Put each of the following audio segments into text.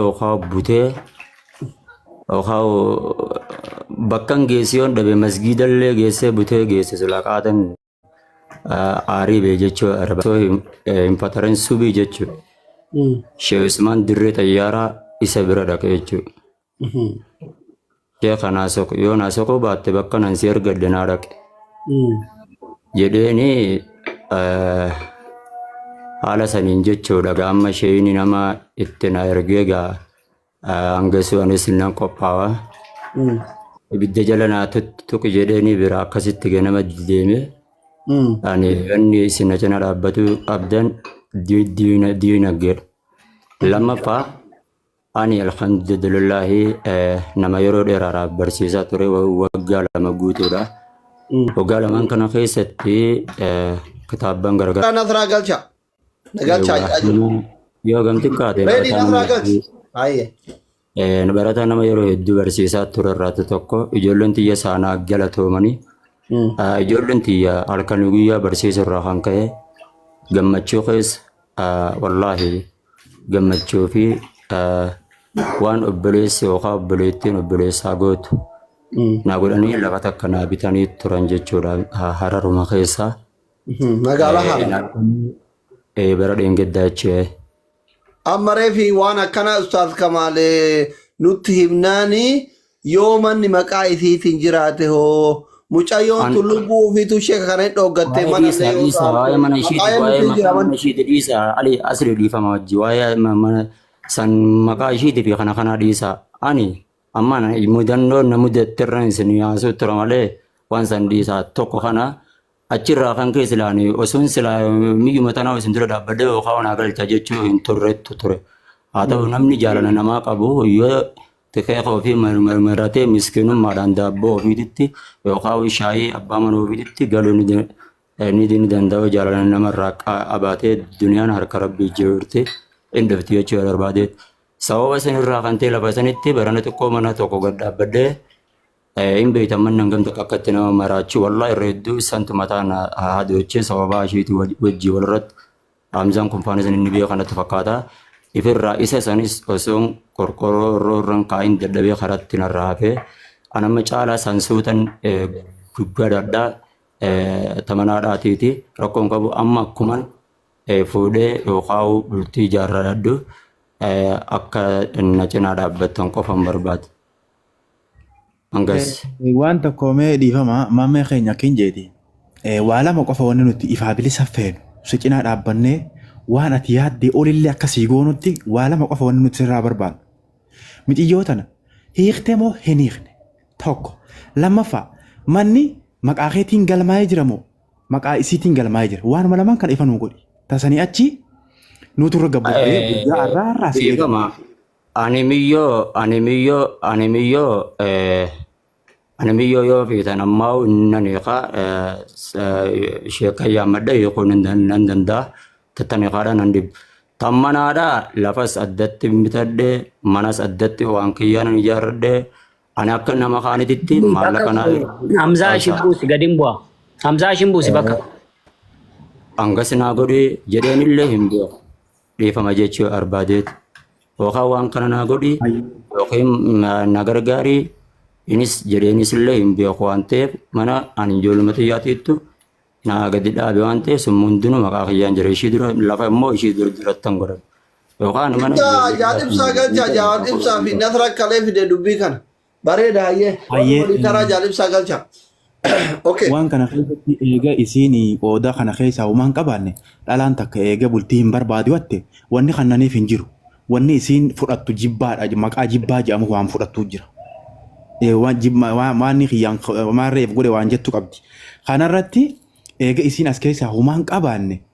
Okaa butee okaa bakkan geessee yoon dhabe masgiidallee geessee butee geesse silaa qaatan aarii bee jechuu araba. So hin eh, hin fatarin subii jechuu. Sheekh Usmaan dirree xayyaaraa isa bira dhaqe jechuu. Sheekha naa soqi yoo naa soquu baatte bakka nan si ergadhe naa dhaqi jedheeni eh, haala saniin jechuudha gaa amma sheeyni nama itti na ergee gaa eh, hangasuu anis nan qophaawa ibidda jala naa tut- tuqi jedheeni bira akkasitti gaa nama deeme ani inni isin na cina dhaabbatu qabdan di- diina diinaggeedha lammaffaa Ani alhamdulillahi nama yeroo dheeraadhaaf barsiisaa ture waggaa lama guutuudha. Waggaa lamaan kana keessatti kitaabban garagaraa. Nasraa galcha. Galcha. Yoo gamti kaate. Reedii nasraa galcha. Baay'ee. Barataa nama yeroo hedduu barsiisaa ture irraatu tokko ijoolleen tiyya saanaa galatoomanii ijoolleen tiyya halkanii guyyaa barsiisu irraa kan ka'e gammachuu keessa wallaahi gammachuu fi waan obboleessi yookaan obboleettiin obboleessaa gootu naa godhanii lafa takka naa bitanii turan jechuudha hararuma keessaa. Magaalaa haala. Bara dheengaddaa jechuudha. Amma reefi waan akkana ustaaz kamaalee nutti himnaanii Yoo manni maqaa isiitiin jiraate hoo? Mucayyoon An- tun lubbuu ofiitu ishee kana hin dhooggattee Waa'ee mana dhiisaa illee yoo dhiisaa taa'u. waa'ee mana ishiiti Maqaa waa'ee eenyuutiin maqaa jira mana manni? ishiiti dhiisaa ali asli dhiifama wajji waa'ee ma- mana san maqaa ishiiti fi kana kanaa dhiisaa ani amma na- mudannoo na mudatterra isin yaasuu tura malee waan san dhiisaa tokko kana achirraa kan kee silaani osoon silaa miyyuma tanaa isin dura dhaabbadee yookaan wanaa galcha jechuu hin turrettu ture haa ta'u namni jaalala namaa qabu yoo Xiqeeqa ofii marmaratee miskinummaadhaan daabboo ofiititti yookaan shaayii abbaa mana ofiititti galuu ni da- eh, ni ni danda'u jaalala namarraa qa- qabaatee duniyaan harka rabbii jirti hin dhufti jechuu yoo barbaade sababa sanirraa kan ta'e lafa sanitti barana xiqqoo mana tokko gad dhaabbadhee eh, hin beektan manni hangam takka akka itti nama maraachuu wallaa irra hedduu santu mataa na haadoochee sababaa ishiitii wajjii walirratti Hamzaan kunfaanis inni beekan natti fakkaata. Ifirraa isa sanis osoon qorqoroo irroo irran kaa'in dadhabee karatti narraa hafee. An amma caalaa san suutan gubbaadha tamanaadhaatiiti rakkoon qabu amma akkuman fuudhee yookaan bultii ijaarradhu akka na cinaa dhaabbattan qofan barbaada. Hangas. Eh, Waan tokko mee dhiifama maammee keenya akkin jeeti. Eh, Waa lama qofa wanni nuti ifaa bilisa feenu. Si cinaa dhaabbannee waan ati yaaddee olillee akka sii goonutti waa lama qofa wanni nuti sirraa barbaadu. Miciyyoo tana hiiktee moo hin hiikne? Tokko. Lammaffaa manni maqaa keetiin galmaa'ee jira moo maqaa isiitiin galmaa'ee jira? Waanuma lamaan kana ifa nuu godhi. Tasanii achi nuutu irra gabbubbee guyyaa har'aa har'aa si eegama. Dhiifama. Ani miyyoo ani miyyoo ani miyyoo eh, ani miyyoo yoo fiitan ammaa nan hiikaa eh, s- eh, ishee kan yaammadha hiikuun hin dan- nan danda'a tattan hiikaadha nan dhib tammanaadha lafas addatti bitadhe manas addatti waan kiyyaan ijaarradhe ani akka nama kaanititti Buus akka maallaqa naa Hamzaa ishin Ashaa. buusi gadi hin bu'a. Hamzaa ishin buusi bakka. hanga sinaa godhi jedheenillee hin beeku dhiifama jechuu yoo arbaadeet yookaan waan kana naa godhi yookiin na- na gargaari inis jedheenis illee hin beeku waan ta'eef mana ani ijoolluma xiyyaatiittu naa gadi dhaabe waan ta'eef sun hundinuu maqaa kiyyaan jira ishii dura lafa immoo ishii dura jirattan godhan yookaan mana Ibsaa ijoollee jaal ibsaa galchaa jaal ibsaa fi nasra kalee fide dubbii kana. Bareeda hayyee. Warri Hayyee, waliin taraa eh, jaalibsaa galcha. Okay. waan kana keessatti eega isiin qooda kana keessaa uumaan qabaanne dhalaan takka eega bultii hin barbaadu hatte wanni kannaniif hin jiru. Wanni isiin fudhattu jibbaadha maqaa jibbaa jedhamu waan fudhattu jira. Eh, waan jibba- waan- waan inni kiyyaan maarreef godhe waan jettu qabdi. Kanarratti eega isiin as keessaa uumaan qabaanne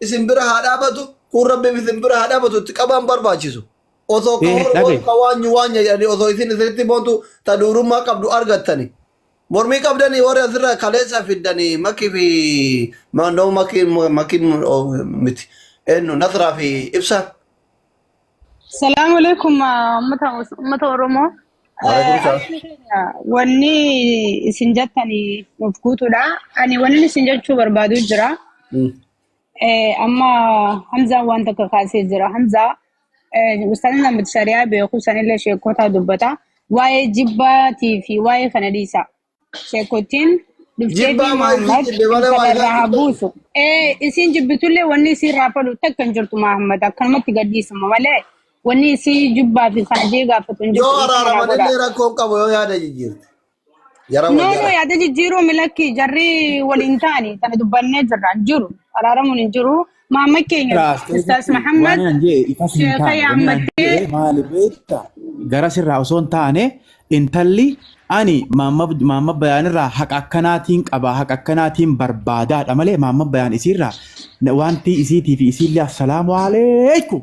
isin bira haa dhaabatu kun rabbiif isin bira haa dhaabatu itti qabaan barbaachisu osoo ka Ee, hor dhabe. hor ka waanyu waanya jedhani osoo isin isinitti boontu ta duurummaa qabdu argattani mormii qabdani warri asirra kaleessa fiddani makki fi maandoo makki makki miti eenyu nasraa fi ibsaan Salaamu alaikum ummata ummata Oromoo. Waalaikum Eh, salam. Ayyana keenya wanni isin jettani nuuf guutuudha. Ani wanni isin jechuu barbaadu jira. Mm. Eh, Amma Hamzaan waan tokko kaasee jira. Hamzaa eh, ustaanni namatti shari'aa beeku sanillee sheekotaa dubbata. Waa'ee jibbaatii fi waa'ee kana dhiisa. Sheekotiin dhufteetii Jibbaa maa isin Muhammad jibbe malee waa isaarraa haa ilaaltu. buusu. Ee isiin jibbitullee wanni isiin raafadhu takka hin jirtu Muhammad akkanumatti gadhiisuma malee wanni isii jibbaa fi kaajee gaafatu hin Yoo jirtu dhiifama naa araaraman godhaa. illee rakkoo hin qabu yoo yaada jijjiirte. Jara wal No no jala. yaada jijjiiruu milakki jarri waliin taani tana dubbannee jirra hin jiru araaramuun hin jiru Maamma keenya Raaftee Ustaas jechuun waan Mahammad naan jee itas hin sheeka taane wanni naan yaammattee jee maali beekta gara sirraa osoo hin taane intalli ani maamma maamma bayaan irraa haqa akkanaatiin qaba haqa akkanaatiin barbaadaadha malee maamma bayaan isiirraa na- wanti isiitii fi isiillee assalaamu aleekum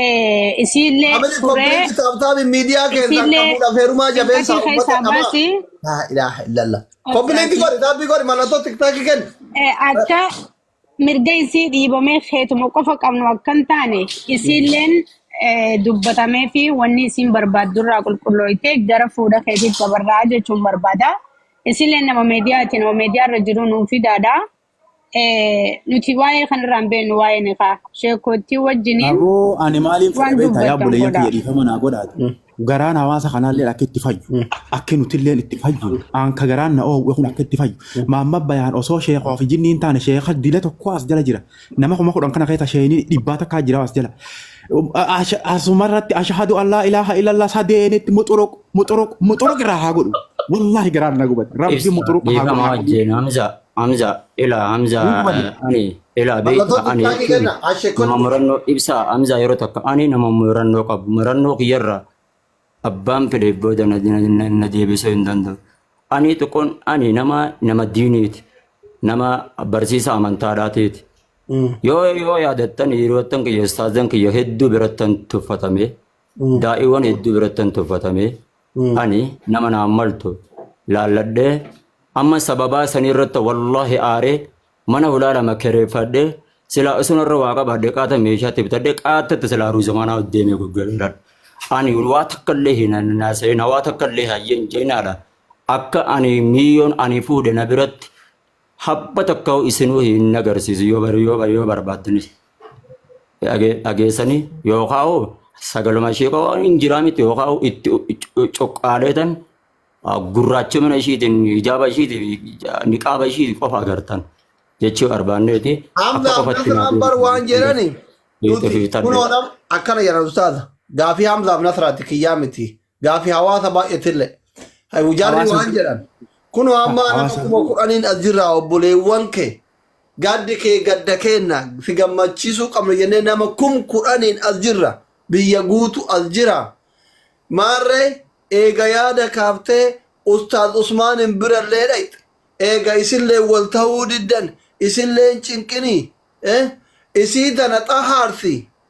Eh, isiillee Amri suree koppiliinki taaptaabi miidiyaa keessaan isiillee qabuudhaaf heerumaa cinqatii jabeessaa uummata keessaa qabaa. baasi. Laa ilaaha illallah. Akka Koppiliinki ati godhi taapii godhi mallattoo tiktaakii kenni. eh, akka mirga isii dhiibamee keetuma qofa qabnu akka hin taane isiilleen eh, dubbatamee fi wanni isiin barbaaddu irraa qulqullooyte gara fuudha keetiif dabarraa jechuun barbaada. Isiilleen nama meediyaati nama meediyaa irra jiru nuuf fidaadha. Eh, nuti waa'ee kanarraa hin beeknu waa'ee nikaa sheekkoottii wajjiniin Aboo ani maaliin fedha waan beektaa yaa dubbattan obboleeyyan godhaa. kiyya dhiifama naa godhaati. Garaan hawaasa kanaallee akka itti fayyu, akka nutillee itti fayyu, aanka garaan na oowwe kun akka itti fayyu. Maamma bayaan osoo sheekaa fi jinni hin taane sheeka dila tokko as jala jira. Nama kuma kudhan kana keessa sheeni dhibbaa takka jira as jala. Asha- Asumarratti ashahadu allaa ilaaha illallah sadeenitti muxuruq muxuruq muxuruq irraa haa godhu. Wallaahi garaan na gubate. Rabbi muxuruq haa godhu. Dhiifama haa godhu. wajjin hamza. Hamza, ila Hamza, Hin hubanne. eh, ani, ila beekta, Mallattoo ani tikkaakii jechuun kenna. Ashee nama kottu. murannoo ibsa Hamza yeroo takka ani nama murannoo qabu. Murannoo kiyyarra abbaan fedheef booda na, na, na, na deebisuu hin danda'u. Ani xiqqoon ani nama nama diiniiti. Nama barsiisa amantaadhaatiiti. Yoo yoo yaadattan hiriyoottan kiyya ustaazan kiyya hedduu birattan tuffatame. Daa'iiwwan hedduu birattan tuffatame. Ani nama naan maltu laalladhee amma sababaa sanii irratti wallaahi aaree mana hulaa lama kireeffadhee silaa osoo narra waa qabaadhe qaata meeshaatti bitadhee qaatatti silaa ruuzamanaa deemee gurgureera. Ani waa takka illee hin naasa'ina waa takka illee hayyeen jeenaadha. Akka ani miiyoon ani fuudhe na biratti habba tokko isinuu hin agarsiisu yoo bar- yoo bar- yoo barbaaddanis dhage- dhageessanii yookaan hoo sagaluma ishee qofaa hin jiraa miti yookaan hoo itti cu- cuqqaaleetan ah, gurraachumina ishiitiin hijaaba ishiitiin ija- niqaaba ishiitiin qofa agartan jechuu barbaanneeti akka Amma qofatti Nasraan naatiin bar waan jedhani nuti fi tarree. kunoodha akkana jedhan ustaaza. Gaafii Hamzaaf Nasraati kiyyaa miti. Gaafi hawaasa baay'eetillee. Hayu jarri Hawaasa- waan jedhan. Kun amma nama hawaasa- kuma kudhaniin as jirra obboleewwan kee. Gaddi kee gadda keenna si gammachiisuu qabna jennee nama kum kudhaniin as jirra. Biyya guutu as jira. Maarree eega yaada kaaftee Ustaaz Usmaaniin birallee dhaqxe. Eega isillee wal ta'uu diddan isillee hin cinqinii. Eh? Isii tana xahaarsi.